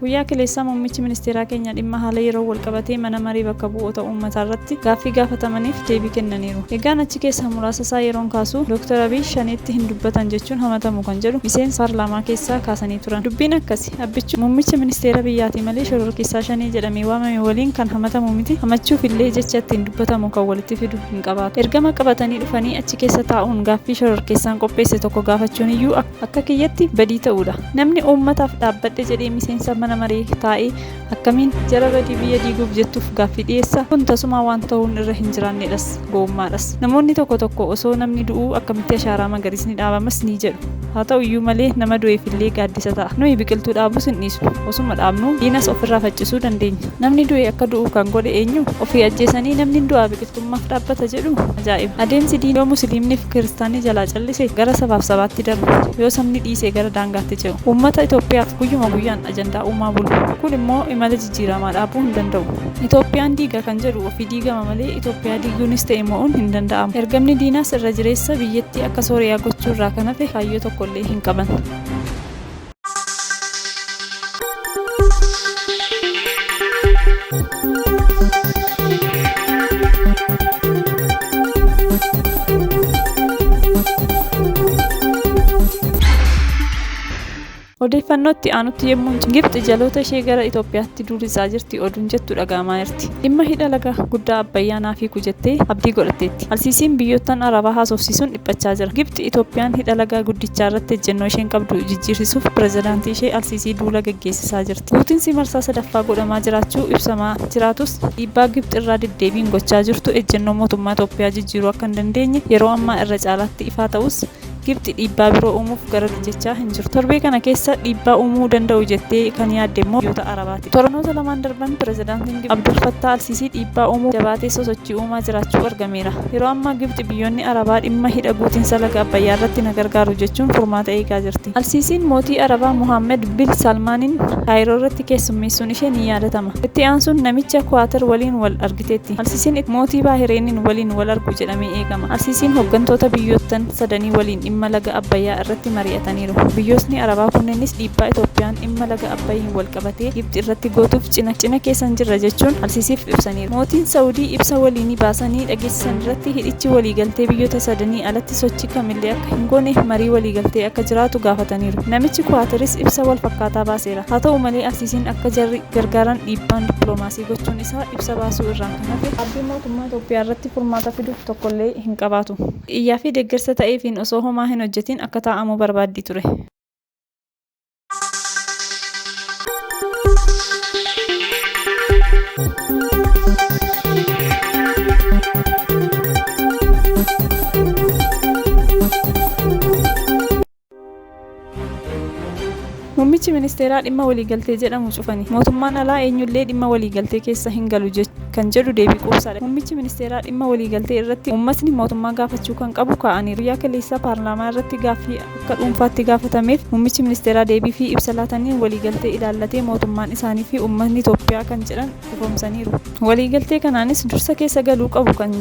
Guyyaa kaleessaa muummichi ministeeraa keenya dhimma haala yeroon walqabatee mana maree bakka bu'oota uummataa irratti gaaffii gaafatamaniif deebii kennaniiru. Egaan achi keessaa muraasa isaa yeroon kaasu Dooktar Abiy Shaneetti hin dubbatan jechuun hamatamu kan jedhu miseensa paarlaamaa keessaa kaasanii turan. Dubbiin akkasi Abbichuu muummicha ministeera biyyaatii malee shororkeessaa Shanee jedhamee waamame waliin kan hamatamu miti, hamachuuf illee jecha ittiin dubbatamu kan walitti fidu hin qabaatu. Ergama qabatanii dhufanii achi keessa taa'uun gaaffii shororkeessaan qopheesse tokko gaafachuun iyyuu akka kiyyatti badii ta'uudha. Namni uummataaf dhaabbadhe jedhee miseensa mana maree taa'e akkamiin jara badii biyya diiguuf jettuuf gaaffii dhiyeessa? Kun tasumaa waan ta'uun irra hin jiraannedhas, gowwummaadhas. Namoonni tokko tokko osoo namni du'uu akkamitti ashaaraa magariisni dhaabamas ni jedhu. Haa ta'u iyyuu malee nama du'eef illee gaaddisa ta'a. Nuyi biqiltuu dhaabuus hin dhiisnu. Osuma dhaabnuu diinas ofirraa faccisuu dandeenya. Namni du'e akka du'u kan godhe eenyu? Ofii ajjeesanii namni hin du'aa biqiltuu. Mootummaaf dhaabbata jedhu ajaa'iba. Adeemsi diinni yoo musiliimniif kiristaanni jalaa callise gara sabaaf sabaatti darbu, yoo sabni dhiise gara daangaatti ce'u. Uummata Itoophiyaaf guyyuma guyyaan ajandaa uumaa bulu. Kun immoo imala jijjiiramaa dhaabuu hin danda'u. Itoophiyaan diiga kan jedhu ofii diigama malee Itoophiyaa diiguunis ta'e mo'uun hin danda'amu. Ergamni diinaas irra jireessa biyyattii akka Sooriyaa gochuu irraa kan hafe kaayyoo tokkollee hin qaban. Odeeffannoo itti aanutti yommuu hin Gibxi jaloota ishee gara Itoophiyaatti duullisaa jirti oduun jettu dhaga'amaa jirti. Dhimma hidha laga guddaa Abbayyaa naaf hiiku jettee abdii godhatteetti. Alsiisiin biyyoottan Arabaa haasofsiisuun dhiphachaa jira. Gibxi Itoophiyaan hidha lagaa guddichaa irratti ejjennoo isheen qabdu jijjiirsisuuf pirezidaantii ishee Alsiisii duula gaggeessisaa jirti. Guutinsi marsaa sadaffaa godhamaa jiraachuu ibsamaa jiraatus dhiibbaa Gibxi irraa deddeebiin gochaa jirtu ejjennoo mootummaa Itoophiyaa jijjiiruu akka hin dandeenye yeroo ammaa irra caalaatti ifaa ta'us Gibxi dhiibbaa biroo uumuuf garasi jechaa hin jirtu. Torbee kana keessa dhiibbaa uumuu danda'u jettee kan yaadde immoo biyyoota Arabaati. Torbanoota lamaan darban pirezidaantiin Gibxi Abdul Fattaa Alsiisii dhiibbaa uumuuf jabaatee sosochii uumaa jiraachuu argameera. ibsameera. Yeroo ammaa Gibxi biyyoonni Arabaa dhimma hidha guutinsa laga Abbayyaa irratti na gargaaru jechuun furmaata eegaa jirti. Al-Siisiin mootii Arabaa Mohaammad bil Saalmaaniin Kaayiroo irratti keessummeessuun ishee ni yaadatama. Itti aansuun namicha Kuwaatar waliin wal argiteetti. Al-Siisiin itti mootii Baahireeniin waliin wal argu jedhamee eegama. Al-Siisiin hoggantoota biyyoottan sadanii waliin dhimma laga Abbayyaa irratti mari'ataniiru. Biyyootni Arabaa kunneenis dhiibbaa Itoophiyaan dhimma laga Abbayyiin wal qabatee Gibxi irratti gootuuf cina cina keessan jirra jechuun Al-Siisiif ibsaniiru. Mootiin Sa'udii ibsa waliinii baasanii dhageessisan irratti hidhichi waliigaltee biyyoota sadanii alatti sochii kamillee akka hin goone marii waliigaltee akka jiraatu gaafataniiru. Namichi Kuwaataris ibsa wal fakkaataa baaseera. Haa ta'u malee Al-Siisiin akka jarri gargaaran dhiibbaan dippiloomaasii gochuun isaa ibsa baasuu irraan kan hafe dhaabbiin mootummaa Itoophiyaa irratti furmaata fidu tokkollee hin qabaatu. Iyyaa fi deeggarsa ta'eefiin osoo homaa hin hojjetiin akka taa'amu barbaaddii ture. Muummichi ministeeraa dhimma waliigaltee jedhamu cufani. Mootummaan alaa eenyullee dhimma waliigaltee keessa hin galu kan jedhu deebii quubsaadha. Muummichi ministeeraa dhimma waliigaltee irratti uummatni mootummaa gaafachuu kan qabu kaa'aniiru. Guyyaa kaleessaa paarlaamaa irratti gaaffii akka dhuunfaatti gaafatameef muummichi ministeeraa deebii fi ibsa laataniin waliigaltee ilaallatee mootummaan isaanii fi uummatni Itoophiyaa kan jedhan ifoomsaniiru. Waliigaltee kanaanis dursa keessa galuu qabu kan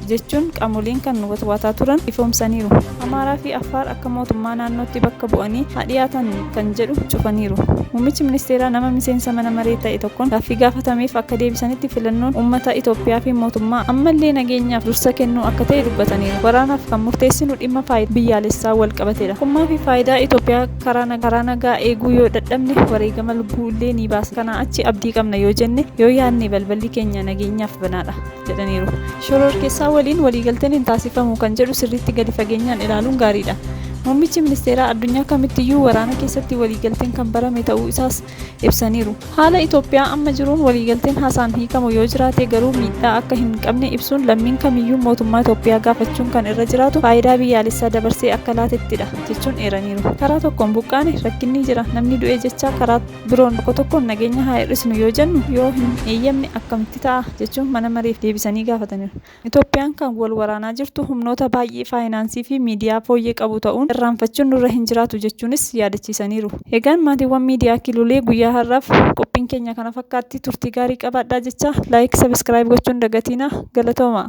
jechuun qaamoleen kan watwaataa turan ifoomsaniiru. Amaaraa fi Affaar akka mootummaa naannootti bakka bu'anii haa dhiyaatan kan jedhu cufaniiru. Muummichi ministeeraa nama miseensa mana maree ta'e tokkoon gaaffii gaafatameef akka deebisanitti filannoon uummata Itoophiyaa fi mootummaa ammallee nageenyaaf dursa kennuu akka ta'e dubbataniiru. Waraanaaf kan murteessinu dhimma. dhimma faayidaa biyyaalessaa wal qabatedha. Tokkummaa fi faayidaa Itoophiyaa karaa nagaa eeguu yoo dadhabne wareegama lubbuu illee ni baasna. Kanaa achi abdii qabna yoo jenne, yoo yaadne balballi keenya nageenyaaf banaadha jedhaniiru. Shororkeessaa waliin waliigalteen hin taasifamu kan jedhu sirriitti gadi fageenyaan ilaaluun gaariidha. Muummichi ministeeraa addunyaa kamittiyyuu waraana keessatti waliigalteen kan barame ta'uu isaas ibsaniiru. Haala Itoophiyaa amma jiruun waliigalteen haasaan hiikamu yoo jiraate garuu miidhaa akka hin qabne ibsuun lammiin kamiyyuu mootummaa Itoophiyaa gaafachuun kan irra jiraatu faayidaa biyyaalessaa dabarsee akka laatettidha jechuun eeraniiru. Karaa tokkoon buqqaane, rakkinni jira, namni du'e jechaa karaa biroon tokko tokkoon nageenya haa hir'isnu yoo jennu yoo hin eeyyamne akkamitti ta'a jechuun mana mareef deebisanii gaafataniiru. Itoophiyaan kan wal waraanaa jirtu humnoota baay'ee faayinaansii fi miidiyaa fooyyee qabu ta'uun irraanfachuun nurra hin jiraatu jechuunis yaadachiisaniiru. Egaan maatiiwwan miidiyaa Kilulee guyyaa har'aaf qophiin keenya kana fakkaatti turtii gaarii qabaadhaa jechaa like subscribe gochuu hin dagatiinaa. Galatoomaa!